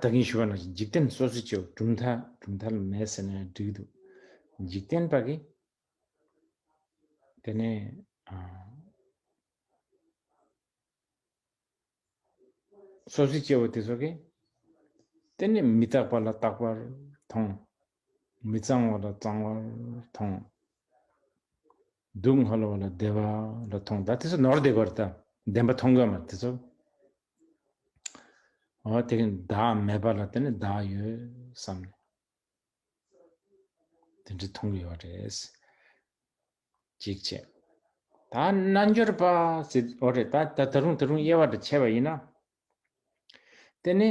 ད་གིན་ཞུ་བ་ན་ཞིག་འཇིག་རྟེན་སོ་སོ་སྐྱེ་བོ་གྲུབ་མཐའ་གྲུབ་མཐའ་ལ་མེད་ཟེར་ན་འགྲིག་འདུག་འཇིག་རྟེན་པ་གིས་དེ་ནས་སོ་སོ་སྐྱེ་བོ་དེ་ཚོ་གིས་དེ་ནས་མི་རྟག་པ་ལ་རྟག་པར་མཐོང། མི་གཙང་བ་ལ་གཙང་བར་མཐོང། སྡུག་བསྔལ་བ་ལ་བདེ་བ་ལ་མཐོང། ད་དེ་ཚོ་ནོར་བདེ་བར་ད་བདེན་པ་མཐོང་གི་མ་རེད་དེ་ཚོ། ཨོ་དེ་གིན་བདག་མེད་པ་ལ་དེ་ནི་བདག་ཡོད་བསམ་ནས། དེ་འདྲ་མཐོང་གི་ཡོད་རེད། གཅིག་བྱས། ད་རྣལ་འབྱོར་པ་ཟེར་ཨོ་རེད་ད་ད་རུང་ད་རུང་དབྱེ་བ་འདྲ་ཕྱེ་བ་ཡིན་ན། དེ་ནི་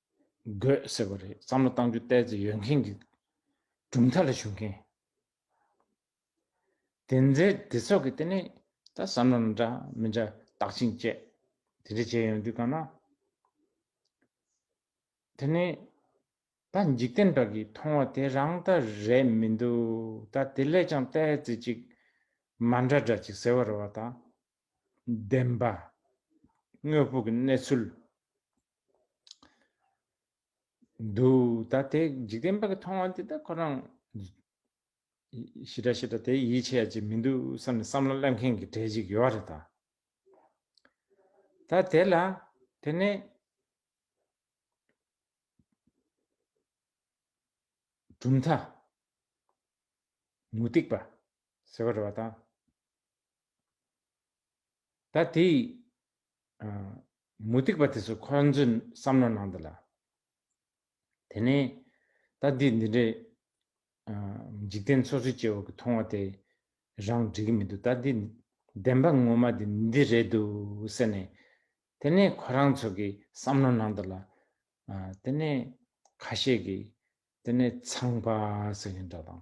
དགོས་ཟེར་བ་རེད་བསམ་བློ་གཏང་རྒྱུ་བལྟས་ཚེ་ཡོད་མཁན་གྱི་གྲུབ་མཐའ་ལ་ཞུགས་མཁན་དེ་འདྲའི་དེ་ཚོ་གི་དེ་ནས་ད་བསམ་བློ་ན་འདྲ་མི་འདྲ་བརྟག་ཅིང་དཔྱད་དེ་འདྲ་བྱས་ཡོང་དུས་གང་ན་དེ་ནས་ད་འཇིག་རྟེན་དག་གིས་མཐོང་བ་དེ་རང་ལྟ་རེད་མི་འདུག་ད་དེ་ལས་ཀྱང་བལྟས་ཚེ་ཅིག་མ་འདྲ་འདྲ་ཅིག་ཟེར་བ་རེད་བ་ད་ལྡན་པ། དངོས་པོ་གི་གནས་ཚུལ། དུ། ད་དེ་འཇིག་རྟེན་པ་གི་མཐོང་བ་འདི་དག་ཁོ་རང། ཞི་དྲག་ཞི་དྲག་དེ་ཡིད་ཆེས་ཡ་ཅིག་མི་འདུག་བསམ་ནས་བསམ་བློ་གླེང་མཁན་གི་གྲས་ཅིག་ཡོད་རེད་ད། ད་དེ་ལ་དེ་ནས། གྲུབ་མཐའ། མུ་སྟེགས་པ། ཟེར་བ་རེད་བ་ད། ད་དེ་མུ་སྟེགས་པ་དེ་ཚོ་ཁོ་རང་ཚོའི་བསམ་བློ་ནང་དུ་ལ། དེ་ནས་ད་འདི་འདི་འདྲའི་འཇིག་རྟེན་སོ་སོའི་སྐྱེ་བོ་གི་མཐོང་བ་དེ་རང་འགྲིག་གི་མི་འདུག་ད་འདི་བདེན་པ་ངོ་མ་འདི་འདི་རེད་འདུག་ཟེར་ནས། དེ་ནས་ཁོ་རང་ཚོ་གི་བསམ་བློ་ནང་དུ་ལ། དེ་ནས་ཁ་ཤས་ཀྱིས་དེ་ནས་ཚངས་པ་ཟེར་གྱི་འདྲ་དང།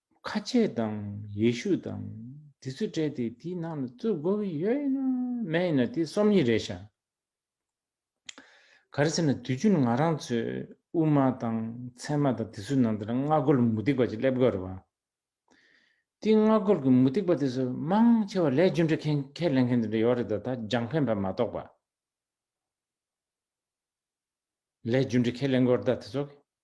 ཁ་ཆེ་དང་ཡེ་ཤུ་དང་དེ་ཚོས་དྲས་ཏེ་དེའི་ནང་ལ་རྩོད་དགོས་ཀྱི་ཡོད་ཡིན་ན་མེད་ཡིན་ན་དེ་སོམ་ཉི་རེད་ཤག་ག་རེ་ཟེར་ན་དུས་རྒྱུན་ང་རང་ཚོས་དབུ་མ་དང་ཚད་མ་དང་དེ་ཚོའི་ནང་དུ་ལ་སྔ་རྒོལ་མུ་སྟེགས་པ་ཅིག་སླེབས་དགོས་རེད་བ། དེའི་སྔ་རྒོལ་གྱི་མུ་སྟེགས་པ་དེ་ཚོ་མང་ཆེ་བ་ལས་རྒྱུ་འབྲས་ཁས་ཁས་ལེན་མཁན་དེ་འདྲ་ཡོད་རེད་ད་ད་རྒྱང་ཕན་པ་མ་གཏོགས་པ། ལས་རྒྱུ་འབྲས་ཁས་ལེན་དགོས་རེད་ད་དེ་ཚོ་གིས།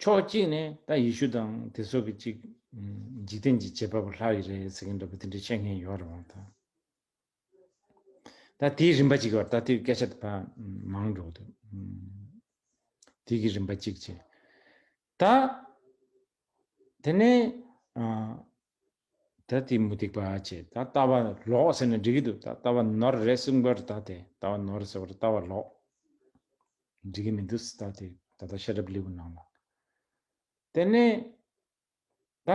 ཕྱོགས་གཅིག་ནས་ད་ཡེ་ཤུ་དང་དེ་སོགས་ཀྱི་གཅིག་འཇིག་རྟེན་གྱི་བྱེད་པ་པོ་ལྷག་ཡི་རེད་ཟེར་མཁན་འདྲ་པོ་དེ་འདྲའི་བཤད་མཁན་ཡོད་རེད་བ་ད། ད་དེའི་རིམ་པ་གཅིག་བར་ད་དེའི་སྐད་ཆ་ད་མང་འགྲོ་གི་འདུག་དེ་གི་རིམ་པ་གཅིག་བྱས། ད་དེ་ནས་ད་དེ་མུ་སྟེགས་པ་ཁྱེད་ད་ལྟ་བ་ལོག་ཟེར་ན་འགྲིག་གི་འདུག་ད་ལྟ་བ་ནོར་རེད་གསུངས་པར་ད་དེ་ལྟ་བ་ནོར་ཟེར་བར་ལྟ་བ་ལོག་འགྲིག་གི་མི་འདུག་ད་དེ་ད་ལྟ་ཤ་རབ་ལེའུ་ནང་ལ་དེ་ནས་ད་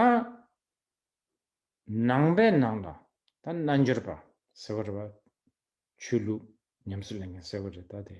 ནང་པའི་ནང་ལ་ད་རྣལ་འབྱོར་པ་ཟེར་བར་བ་ཆོས་ལུགས་ཉམས་སུ་ལེན་མཁན་ཟེར་བ་རེད་ད་དེ།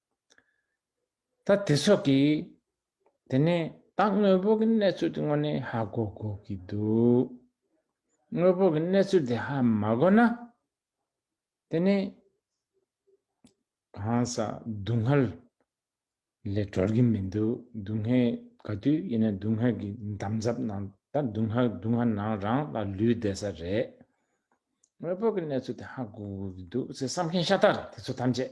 ད་དེ་སོགས་ཀྱི་དེ་ནས་ད་དངོས་པོ་གི་གནས་ཚུལ་དེ་དངོས་ནས་ཧ་གོ་དགོས་ཀྱི་འདུག་དངོས་པོ་གི་གནས་ཚུལ་དེ་ཧ་མ་གོ་ན་དེ་ནས་གང་ཟག་སྡུག་བསྔལ་ལས་གྲོལ་གྱི་མི་འདུག་སྡུག་བསྔལ་ག་དུས་ཡིན་ན་སྡུག་བསྔལ་གྱི་འདམ་རྫབ་ནང་ད་སྡུག་བསྔལ་སྡུག་བསྔལ་ནང་རང་ལ་ལུས་བསྡད་ས་རེད་དངོས་པོ་གི་གནས་ཚུལ་དེ་ཧ་གོ་དགོས་ཀྱི་འདུག་ཚེ་བསམ་མཁན་ཤ་སྟག་རེད་དེ་ཚོ་ཐམས་ཅད།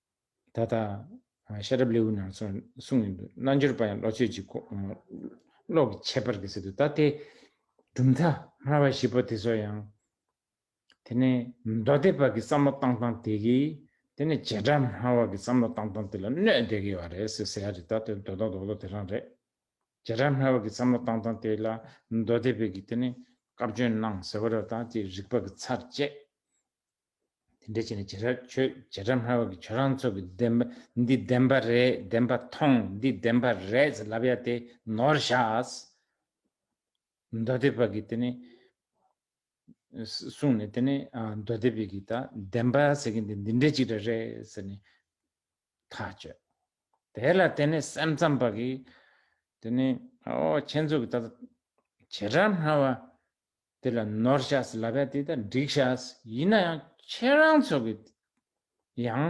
ད་ལྟ། ཤ་རབ་ལེའུ་ནང་སོགས་གསུངས་ཡོད་འདུག་རྣལ་འབྱོར་པ་ཡང་བློ་ཆོས་ཀྱི་བློ་གི་ཁྱད་པར་གྱིས་སྲིད་དུ་ད་ལྟའི། གྲུབ་མཐའ་སྨྲ་བ་བཞི་པོ་དེ་སོགས་ཡང། དེ་ནས་མདོ་སྡེ་པ་གི་བསམ་བློ་བཏང་སྟངས་དེ་གིས། དེ་ནས་བྱེ་བྲག་སྨྲ་བ་གི་བསམ་བློ་བཏང་སྟངས་དེ་ལ་གནོད་བདེ་གི་བ་རེད་ཟེར་ཟེར་ཡ་རེད་ད་ལྟའི་མདོ་དང་འདོགས་བློ་དེ་རང་རེད། བྱེ་བྲག་སྨྲ་བ་གི་བསམ་བློ་བཏང་སྟངས་དེ་ལ་མདོ་སྡེ་པས་གིས་དེ་ནས་བཀའ་བཀྱོན་གནང་ཟེར་བ་ར་དང་དེ་རིགས་པ་གི་ཚར་བཅད། དེ་འདྲའི་ཆེད་ནས་བྱེད་སྒྲ་ཆོས་བྱེད་སྒྲ་སྨྲ་བ་གི་ཆོས་རང་ཚོད་ཀྱི་བདེན་པ་འདི་བདེན་པ་རེད་བདེན་པ་ཐོང་འདི་བདེན་པ་རེད་ཟེར་ལབ་ཡ་དེ་ནོར་ཤགས། མདོ་སྡེ་པ་གི་དེ་ནི་གསུངས་ནས་དེ་ནི་མདོ་སྡེ་པས་གི་ད་བདེན་པ་ཟེར་གི་འདི་འདི་འདྲའི་ཅིག་འདྲ་རེད་ཟེར་ནས་ཐག་གཅོད། དེ་ལ་དེ་ནི་སེམས་ཙམ་པ་གི་དེ་ནི་ཨོ་ཁྱེད་ཚོ་གི་ད་བྱེད་སྒྲ་སྨྲ་བ་དེ་ལ་ནོར་ཤཱས་ལ་བས་དེ་དང་འགྲིག་ཤཱས་ཡིན་ན་ཡང་ཁྱེད་རང་ཚོ་གི་ཡང་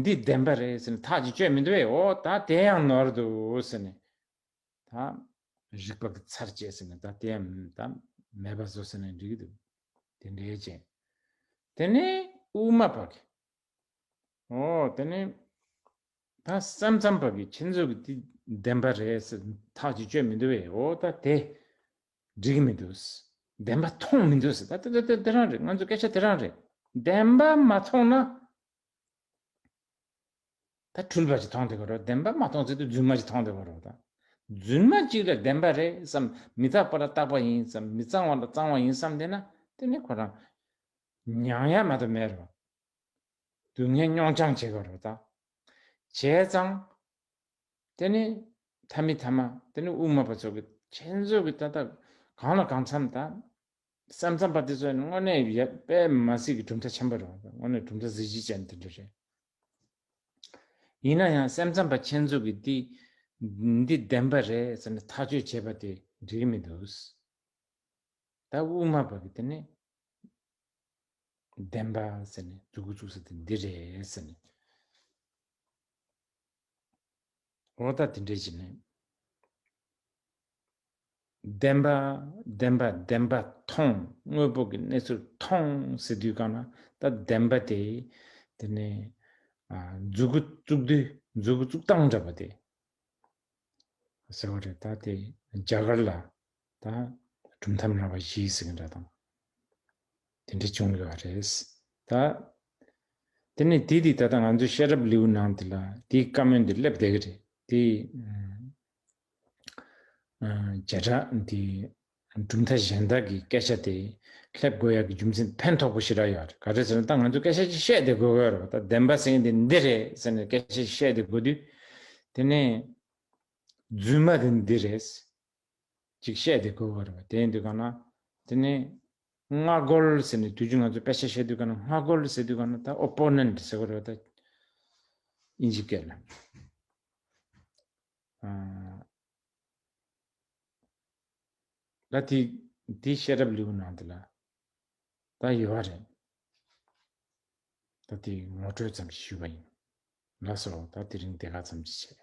འདི་བདེན་པ་རེད་ཟེར་ནས་ཐག་ཅིག་གཅོད་མི་འདུག་བས་འོ་ད་དེ་ཡང་ནོར་འདུག་ཟེར་ནས་ད། རིག་པ་གི་ཚར་བཅད་ཟེར་ནས་ད་དེ་ཡང་ད་མེད་པ་བཟོ་ཟེར་ནས་འགྲིག་གི་འདུག་དེ་འདྲའི་ཅན། དེ་ནས་དབུ་མ་པ་གི། འོ་དེ་ནས་ད་སེམས་ཙམ་པ་གི་ཁྱེད་ཚོ་གི་འདི་བདེན་པ་རེད་ཟེར་ཐག་ཅིག་གཅོད་མི་འདུག་བས་འོ་ད་དེ་འགྲིག་མི་འདུག། བདེན་པ་མཐོང་མི་འདུག་ཟེར། དེ་དེ་དེ་རང་རེད་ང་ཚོའི་སྐད་ཆ་དེ་རང་རེད། བདེན་པ་མ་མཐོང་ན། ད་འཁྲུལ་པ་ཅིག་མཐོང་བསྡད་ཀྱི་རོགས། བདེན་པ་མ་མཐོང་ཚེ་དུས་རྫུན་མ་ཅིག་མཐོང་བསྡད་ཀྱི་རོགས། རྫུན་མ་ཅིག་ལ་བདེན་པ་རེད་བསམ། མི་རྟག་པ་ལ་རྟག་པ་ཡིན་བསམ། མི་གཙང་བ་ལ་གཙང་བ་ཡིན་བསམ་བསྡད་ན། དེ་ནི་ཁོ་རང། མྱངས་ཡ་མ་གཏོགས་མེད་རེད་བ། སྡུག་བསྔལ་མྱོང་བྱང་བྱེད་ཀྱི་རོགས། བྱས་ཙང། དེ་ནི་ཐ་མི་ཐ་མ་དེ་ནི་དབུ་མ་པ་ཚོ་གི་ཁྱེད་ཚོ་གི་ལྟ་སྟངས་གང་ལ་གང་འཚམ་དང། སམ་འཚམ་པ་དེ་ཚོ་ནི་དངོས་གནས་དཔེ་མ་ཟིག་གི་གྲུབ་མཐའ་ཆེན་པོ་རེད་བ་དངོས་གནས་གྲུབ་མཐའ་གཟི་བརྗིད་ཅན་དེ་འདྲ་རེད། ཡིན་ན་ཡང་སེམས་འཚམ་པ་ཁྱེད་ཚོ་གི་འདི་འདི་བདེན་པ་རེད་ཟེར་ནས་ཐག་གཅོད་བྱེད་པ་དེ་འགྲིག་གི་མི་འདུག། ད་དབུ་མ་པ་གི་དེ་ནི་བདེན་པ་ཟེར་ནས་འཛུགས་གི་བཅུག་ས་དེ་འདི་རེད་ཟེར་ནས། ལོག་ལྟ་དེ་འདྲའི་བྱེད་ནུས། བདེན་པ། བདེན་པ། བདེན་པ་མཐོང། དངོས་པོ་གི་གནས་ཚུལ་མཐོང་ཟེར་དུས་གང་ན་ད་བདེན་པ་དེ། དེ་ནི། མཛུ་གུ་བཙུགས་དུས་མཛུ་གུ་བཙུགས་སྟངས་འདྲ་བ་དེ། ཟེར་བ་རེད་ད་དེ་རྒྱ་གར་ལ། ད་གྲུབ་མཐའ་མེད་པ་ཞིག་ཟེར་གི་འདྲ་དང། དེ་འདྲ་བྱུང་ཡོད་རེད་ད། དེ་ནས་དེ་དུས་ད་ལྟ་ང་ཚོས་ཤེས་རབ་ལེའུ་ནང་དེ་ལ་དེའི་བཀའ་མོལ་འདི་སླེབས་བསྡད་གི་རེད་དེ། བྱེ་བྲག་འདི་གྲུབ་མཐའ་གཞན་དག་གི་སྐད་ཆ་དེ་སླེབས་དགོས་ཡག་གི་རྒྱུ་མཚན་ཕན་ཐོགས་པོ་ཞིག་རག་ཡོད་རེད་ག་རེད་ཟེར་ན་ད་ང་ཚོས་སྐད་ཆ་ཅིག་བཤད་དེ་དགོས་གི་རེད་ད་བདེན་པ་ཟེར་མཁན་དེ་འདི་རེད་ཟེར་ནས་སྐད་ཆ་ཞིག་བཤད་དེ་དགོས་དུས། དེ་ནས་རྫུན་མ་དེ་འདི་རེད། ཅིག་བཤད་དེ་གོ་བར་བ་དེ་འདི་ག་ན། དེ་ནི། སྔ་རྒོལ་ཟེར་ནས་དུས་རྒྱུན་ང་ཚོ་དཔེ་ཆ་བཤད་དུས་ག་ན་སྔ་རྒོལ་ཟེར་དུས་ག་ན་ད opponent ཟེར་གོ་རེ་བ་ད། ཨིན་ཇི་སྐད་ལ། ད་དེ་དེ་བཤད་རབས་ལེའུ་ནང་དེ་ལ། ད་ཡོད་བ་རེད། ད་དེ་ངོ་སྤྲོད་ཙམ་ཞིག་ཞུས་བ་ཡིན། ལགས་སོ་ད་དེ་རིང་དེ་ག་ཙམ་གྱིས་བྱས།